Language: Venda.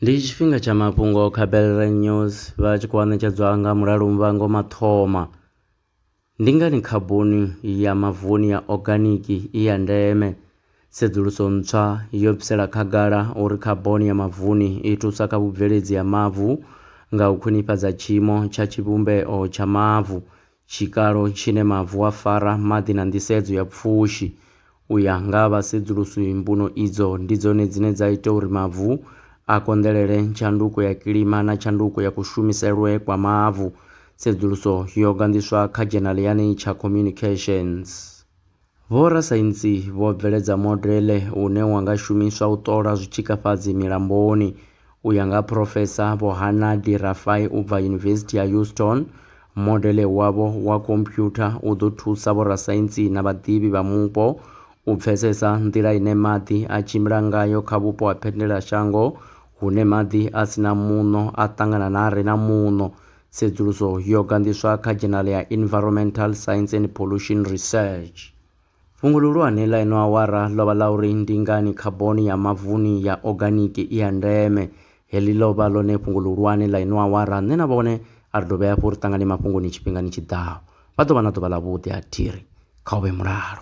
ndi tshifhinga tsha mafhungo kha belre news vha tshi khou anetshedzwa nga mulalo muvhango mathoma ndi ngani khaboni ya mavuni ya oganiki i ya ndeme sedzuluso ntswa yo bvisela khagala uri khaboni ya mavuni i thusa kha vhubveledzi ha mavu nga u khwinifhadza tshiimo tsha tshivhumbeo tsha mavu Tshikalo tshine mavu a fara, maḓi na nḓisedzo ya pfushi. U ya nga ha vhasedzulusi, mbuno idzo ndi dzone dzine dza ita uri mavu a konḓelele tshanduko ya kilima na tshanduko ya kushumiselwe kwa mavu. Tsedzuluso yo ganḓiswa kha dzhenali ya Nature Communications. Vhorasaintsi vho bveledza modele une wa nga shumiswa u ṱola zwitshikafhadzi milamboni. U ya nga ha Phurofesa Vho Hanna De Rafai u bva Yunivesithi ya Houston, modele wavho wa khomphyutha u ḓo thusa vhorasaintsi na vhaḓivhi vha mupo u pfesesa nḓila ine maḓi a tshimbila ngayo kha vhupo ha phendelashango hune maḓi a si na muṋo a ṱangana na a re na muṋo. Tsedzuluso yo ganḓiswa kha dzhenala ya Environmental Science and Pollution Research. Fhungo ḽihulwane ḽa ino awara ḽo vha ḽa uri ndi ngani khaboni ya mavuni ya oganiki i ya ndeme. Heḽi ḽo vha ḽone fhungo ḽihulwane ḽa ino awara. Nṋe na vhone a ri dovhe hafhu ri ṱangane mafhungoni tshifhingani tshi ḓaho. Vha ḓo vha na ḓuvha ḽavhuḓi a thi ri kha u vhe mulalo.